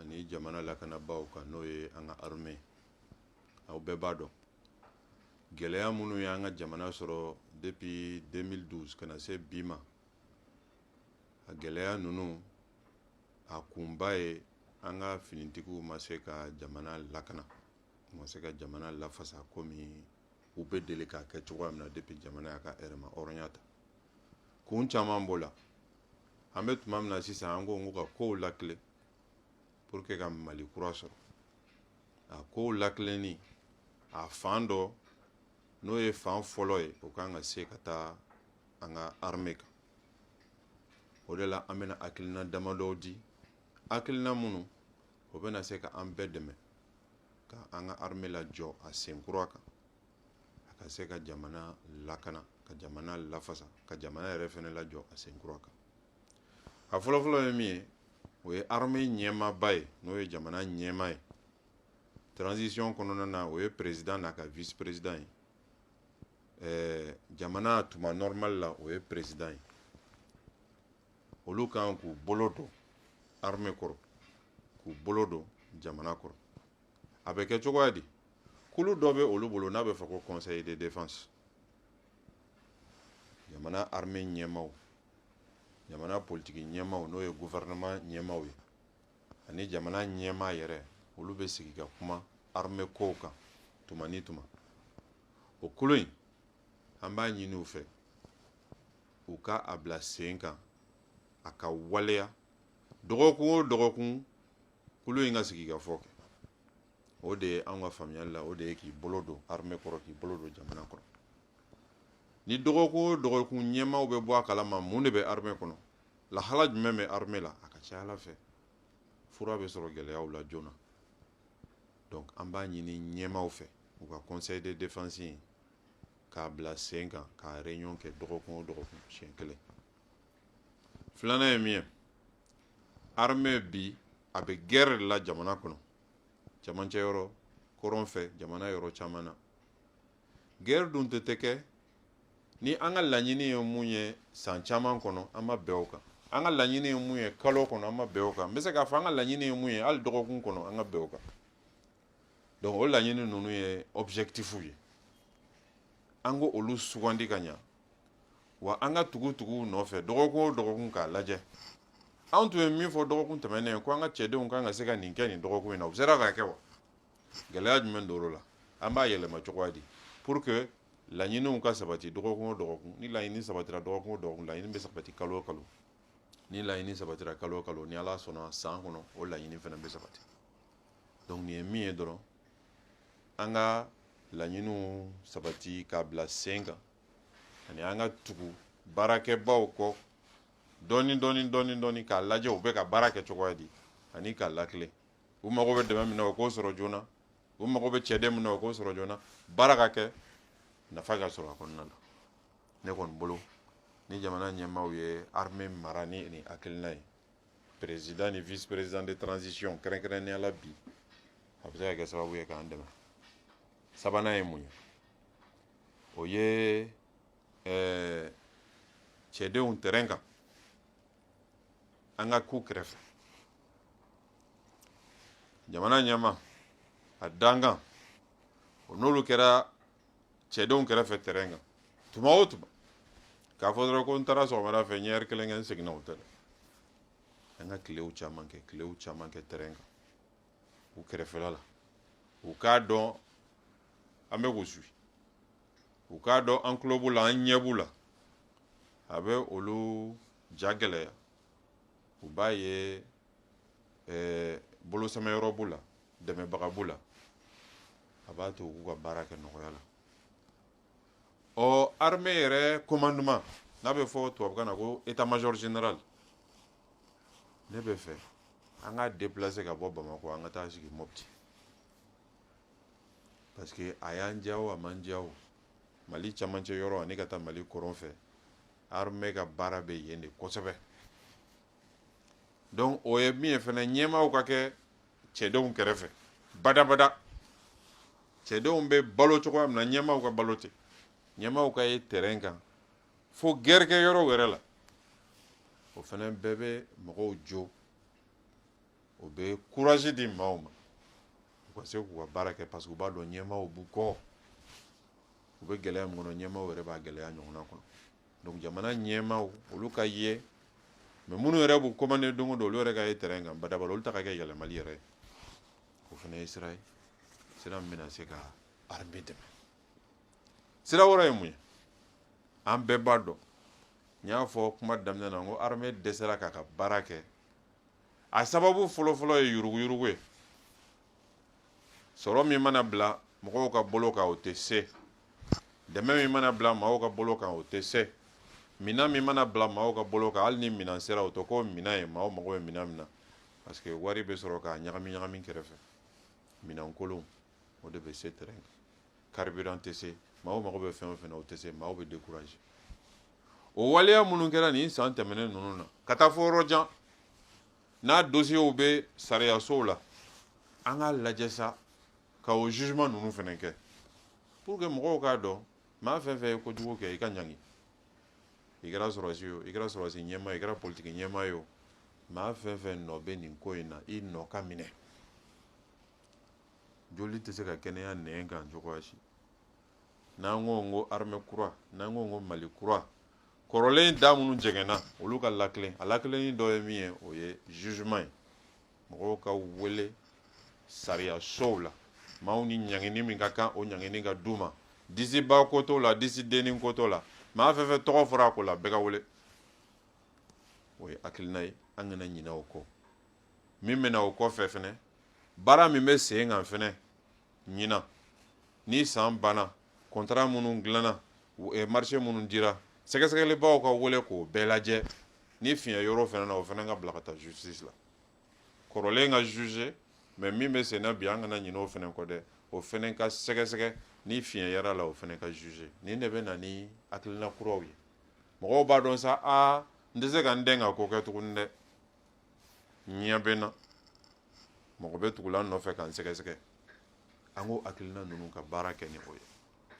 ani jamana lakanabaaw kan n'o ye an ka armée aw bɛɛ b'a dɔn gɛlɛya minnu ye an ka jamana sɔrɔ depuis 2012 ka na se bi ma a gɛlɛya ninnu a kunba ye an ka finitigiw ma se ka jamana lakana ma se ka jamana lafasa komi u bɛ deli k'a kɛ cogoya min na depuis jamana y'a ka yɛrɛmahɔrɔnya ta kun caman b'o la an bɛ tuma min na sisan an ko ka kow lakilen pour que ka mali kura sɔrɔ a kow lakilenni a fan dɔ n'o ye fan fɔlɔ ye o kan ka se ka taa an ka armée kan o de la an bɛna hakilina damadɔw di hakilina minnu o bɛna se ka an bɛɛ dɛmɛ ka an ka armée lajɔ a sen kura kan a ka se ka jamana lakana ka jamana lafasa ka jamana yɛrɛ fɛnɛ lajɔ a sen kura kan a fɔlɔfɔlɔ ye min ye o ye armée ɲɛmaaba ye n'o ye jamana ɲɛmaa ye transition kɔnɔna na o ye président n'a ka vice président ye ɛɛ jamana tuma normal la o ye président ye olu kan k'u bolo don armée kɔrɔ k'u bolo don jamana kɔrɔ a bɛ kɛ cogoya di kulu dɔ bɛ olu bolo n'a bɛ fɔ ko conseil de défense jamana armée ɲɛmaaw jamana politiki ɲɛmaaw n'o ye gouvernement ɲɛmaaw ye ani jamana ɲɛmaa yɛrɛ olu bɛ sigi ka kuma armée kow kan tuma ni tuma o kulu in an b'a ɲini u fɛ u ka a bila sen kan a ka waleya dɔgɔkun o dɔgɔkun kulu in ka sigikafɔ kɛ o de ye an ka faamuyali la o de ye k'i bolo don armée kɔrɔ k'i bolo don jamana kɔrɔ ni dɔgɔkun o dɔgɔkun ɲɛmaaw bɛ bɔ a kalama mun de bɛ armée kɔnɔ lahala jumɛn bɛ armée la a ka ca ala fɛ fura bɛ sɔrɔ gɛlɛyaw la joona donc an b'a ɲini ɲɛmaaw fɛ u ka conseil de défense in k'a bila sen kan k'a réunion kɛ dɔgɔkun o dɔgɔkun siɲɛ kelen filanan ye min ye armée bi a bɛ guerre de la jamana kɔnɔ cɛmancɛ yɔrɔ kɔrɔn fɛ jamana yɔrɔ caman na guerre dun tɛ tɛ kɛ ni an ka laɲini ye mun ye san caman kɔnɔ an ma bɛn o kan an ka laɲini ye mun ye kalo kɔnɔ an ma bɛn o kan n bɛ se k'a fɔ an ka laɲini ye mun ye hali dɔgɔkun kɔnɔ an ka bɛn o kan donc o laɲini ninnu ye objectif ye an ka olu sugandi ka ɲa wa an ka tugu tugu u nɔfɛ dɔgɔkun o dɔgɔkun k'a lajɛ anw tun ye min fɔ dɔgɔkun tɛmɛnen ko an ka cɛdenw kan ka se ka nin kɛ nin dɔgɔkun in na u sera k'a kɛ wa gɛlɛya jumɛn don o la an b'a yɛlɛma cogoya di pour que laɲiniw ka sabati dɔgɔkun o dɔgɔkun ni laɲini sabatira dɔgɔkun o dɔgɔkun laɲini bɛ sabati kalo o kalo ni laɲini sabatira kalo o kalo ni ala sɔnna san kɔnɔ o laɲini fana bɛ sabati donc nin ye min ye dɔrɔn an ka laɲiniw sabati k'a bila sen kan ani an ka tugu baarakɛbaw kɔ dɔɔni dɔɔni dɔɔni dɔɔni k'a lajɛ u bɛ ka baara kɛ cogoya di ani k'a latilen u mago bɛ dɛmɛ min na u k'o sɔrɔ joona u mago bɛ cɛden min na u k'o sɔrɔ joona baara ka kɛ nafa ka sɔrɔ a kɔnɔna na ne kɔni bolo ni jamana ɲɛmaaw ye armée mara ni nin hakilina ye président ni vice président de transition kɛrɛnkɛrɛnnenya la bi a bɛ se ka kɛ sababu ye k'an dɛmɛ sabanan ye mun ye o ye cɛdenw terrain kan an ka k'u kɛrɛfɛ jamana ɲɛmaa a dankan o n'olu kɛra cɛdenw kɛrɛfɛ terrain kan tuma o tuma k'a fɔ dɔrɔn ko n taara sɔgɔmada fɛ n ye heure kelen kɛ n seginna o tɛ dɛ an ka tilew caman kɛ tilew caman kɛ terrain kan u kɛrɛfɛla la u k'a dɔn an bɛ k'u suivre u k'a dɔn an tulo b'u la an ɲɛ b'u la a bɛ olu ja gɛlɛya u b'a ye ɛɛ bolosɛmɛyɔrɔ b'u la dɛmɛbaga b'u la a b'a to u k'u ka baara kɛ nɔgɔya la ɔ armée yɛrɛ commandement n'a bɛ fɔ tubabukan na ko état major général ne bɛ fɛ an k'a déplacer ka bɔ bamakɔ an ka taa sigi mopti parce que a y'an diya o a m'an diya o mali camancɛ yɔrɔ ani ka taa mali kɔrɔn fɛ armée ka baara bɛ yen de kosɛbɛ donc o ye min ye fɛnɛ ɲɛmaaw ka kɛ cɛdenw kɛrɛfɛ badabada cɛdenw bɛ balo cogoya min na ɲɛmaaw ka balo ten ɲɛmaaw ka ye terrain kan fo guerre kɛ yɔrɔ wɛrɛ la o fɛnɛ bɛɛ bɛ mɔgɔw jo o bɛ courage di maaw ma u ka se k'u ka baara kɛ parce que u b'a dɔn ɲɛmaaw b'u kɔ u bɛ gɛlɛya min kɔnɔ ɲɛmaaw yɛrɛ b'a gɛlɛya ɲɔgɔnna kɔnɔ donc jamana ɲɛmaaw olu ka ye mais minnu yɛrɛ b'u commander don o don olu yɛrɛ ka ye terrain kan badabada olu ta ka kɛ yɛlɛmali yɛrɛ ye o fana ye sira ye sira min bɛna se ka armée dɛmɛ sira wɛrɛ ye mun ye an bɛɛ b'a dɔn n y'a fɔ kuma daminɛ na n ko armée dɛsɛra k'a ka baara kɛ a sababu fɔlɔfɔlɔ ye yuruguyurugu ye sɔrɔ min mana bila mɔgɔw ka bolo kan o tɛ se dɛmɛ min mana bila maaw ka bolo kan o tɛ se minɛn min mana bila maaw ka bolo kan hali ni minɛn sera o tɛ ko minɛn ye maaw mago bɛ minɛn min na parce que wari bɛ sɔrɔ k'a ɲagami ɲagami kɛrɛfɛ minɛn kolon o de bɛ se terrain kan carburant tɛ se maaw mago bɛ fɛn o fɛn na o tɛ se maaw bɛ décourager o waleya minnu kɛra nin san tɛmɛnen ninnu na ka taa fɔ yɔrɔ jan n'a dossiers bɛ sariyasow la an k'a lajɛ sa ka o jugement ninnu fɛnɛ kɛ pour que mɔgɔw k'a dɔn maa fɛn fɛn ye kojugu kɛ i ka ɲangi i kɛra sɔrɔsi ye o i kɛra sɔrɔsi ɲɛmaa ye o i kɛra politiki ɲɛmaa ye o maa fɛn fɛn nɔ bɛ nin ko in na i nɔ ka minɛ joli tɛ se ka kɛnɛya nɛn kan cogoya si n'an ko n ko armée kura n'an ko n ko mali kura kɔrɔlen da minnu jɛngɛnna olu ka lakilen a lakilenni dɔ ye min ye o ye jugement ye mɔgɔw ka wele sariyasow la maaw ni ɲangini min ka kan o ɲangini ka d'u ma disiba ko t'o la disidenni ko t'o la maa fɛn fɛn tɔgɔ fɔra a ko la bɛɛ ka wele o ye hakilina ye an kana ɲinɛ o kɔ min bɛ na o kɔfɛ fɛnɛ baara min bɛ sen kan fɛnɛ ɲinan ni san banna contrat minnu dilanna eh, marché minnu dira sɛgɛsɛgɛlibaw ka wele k'o bɛɛ lajɛ ni fiɲɛ yer'o fɛnɛ na o fɛnɛ ka bila ka taa justice la kɔrɔlen ka juger mais min bɛ senna bi an kana ɲinɛ o fɛnɛ kɔ dɛ o fɛnɛ ka sɛgɛsɛgɛ ni fiɲɛ yer'a la o fɛnɛ ka juger nin de bɛ na ni hakilina kuraw ye mɔgɔw b'a dɔn sa aa n tɛ se ka n dɛn ka ko kɛ tuguni dɛ ɲɛ bɛ n na mɔgɔ bɛ tugula n nɔfɛ ka n sɛgɛsɛgɛ an ko hakilina ninnu ka baara kɛ ni o ye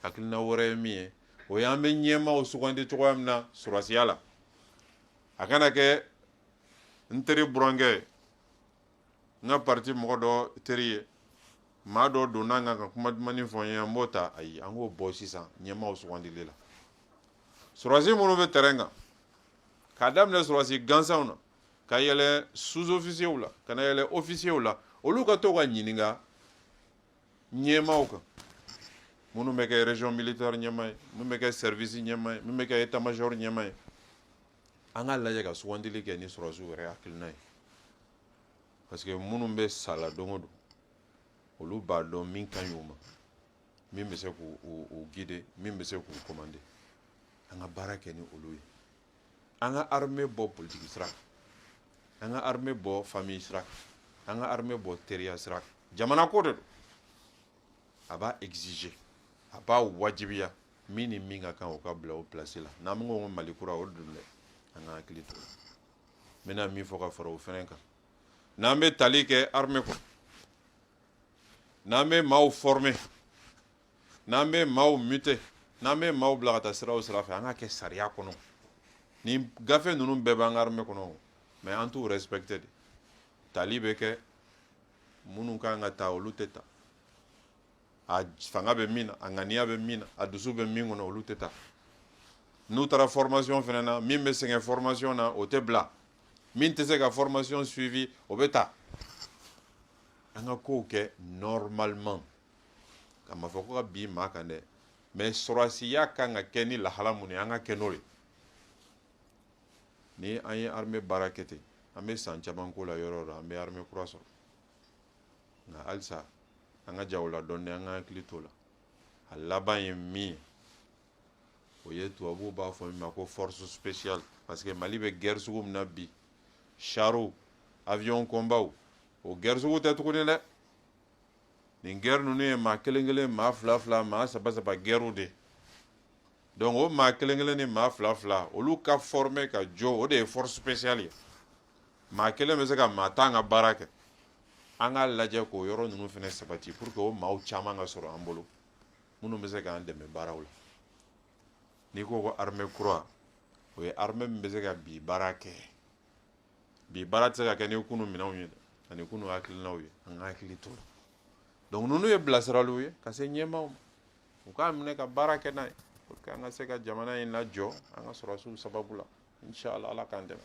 hakilina wɛrɛ ye min ye o ye an bɛ ɲɛmaaw sugandi cogoya min na sɔrɔsiya la a kana kɛ n teri burankɛ n ka parti mɔgɔ dɔ teri ye maa dɔ donna n kan ka kuma dumannin fɔ n ye an b'o ta ayi an k'o bɔ sisan ɲɛmaaw sugandili la sɔrɔsi minnu bɛ terrain kan k'a daminɛ sɔrɔsi gansanw na ka yɛlɛ sous-officiers la ka na yɛlɛ officiers la olu ka to ka ɲininka ɲɛmaaw kan minnu bɛ kɛ région militaire ɲɛmaa ye minnu bɛ kɛ service ɲɛmaa ye minnu bɛ kɛ état major ɲɛmaa ye an k'a lajɛ ka sugandili kɛ ni sɔrɔsiw yɛrɛ hakilina ye parce que minnu bɛ sa la don o don olu b'a dɔn min ka ɲi u ma min bɛ se k'u guider min bɛ se k'u commander an ka baara kɛ ni olu ye an ka armée bɔ politique sira kan an ka armée bɔ famille sira kan an ka armée bɔ teriya sira kan jamana ko de don a b'a exiger a b'a wajibiya min ni min ka kan o ka bila o place la n'an bɛ ko mali kura o don dɛ an ka hakili to n bɛna min fɔ ka fara o fɛnɛ kan n'an bɛ tali kɛ armée kɔnɔ n'an bɛ maaw former n'an bɛ maaw muter n'an bɛ maaw bila ka taa sira o sira fɛ an k'a kɛ sariya kɔnɔ nin gafe ninnu bɛɛ b'an ka armée kɔnɔ mais an t'u respecter dɛ tali bɛ kɛ minnu ka kan ka ta olu tɛ ta a fanga bɛ min na a ŋaniya bɛ min na a dusu bɛ min kɔnɔ olu tɛ ta n'u taara formation fana na min bɛ sɛgɛn formation na o tɛ bila min tɛ se ka formation suivi o bɛ ta an ka kow kɛ normalement ka ma fɔ ko ka bin maa kan dɛ mais sɔrɔasiya kan ka kɛ ni lahala mun ye an k'a kɛ n'o ye ni an ye armée baara kɛ ten an bɛ san caman k'o la yɔrɔ yɔrɔ an bɛ armée kura sɔrɔ nka halisa an ka ja o la dɔɔni an ka hakili t'o la a laban ye min ye o ye tubabuw b'a fɔ min ma ko force spéciale parce que Mali bɛ guerre sugu min na bi chars avion combat o guerre sugu tɛ tuguni dɛ nin guerre ninnu ye maa kelen kelen maa fila fila maa saba saba guerrew de donc o maa kelen kelen ni maa fila fila olu ka former ka jɔ o de ye force spéciale ye maa kelen bɛ se ka maa tan ka baara kɛ an k'a lajɛ k'o yɔrɔ ninnu fana sabati pour que o maaw caman ka sɔrɔ an bolo minnu bɛ se k'an dɛmɛ baaraw la n'i ko ko armée kura o ye armée min bɛ se ka bi baara kɛ bi baara tɛ se ka kɛ ni kunu minɛnw ye ani kunu hakilinaw ye an ka hakili t'o la donc ninnu ye bilasiraliw ye ka se ɲɛmaaw ma u k'a minɛ ka baara kɛ n'a ye pour que an ka se ka jamana in lajɔ an ka sɔrɔsiw sababu la inshallah ala k'an dɛmɛ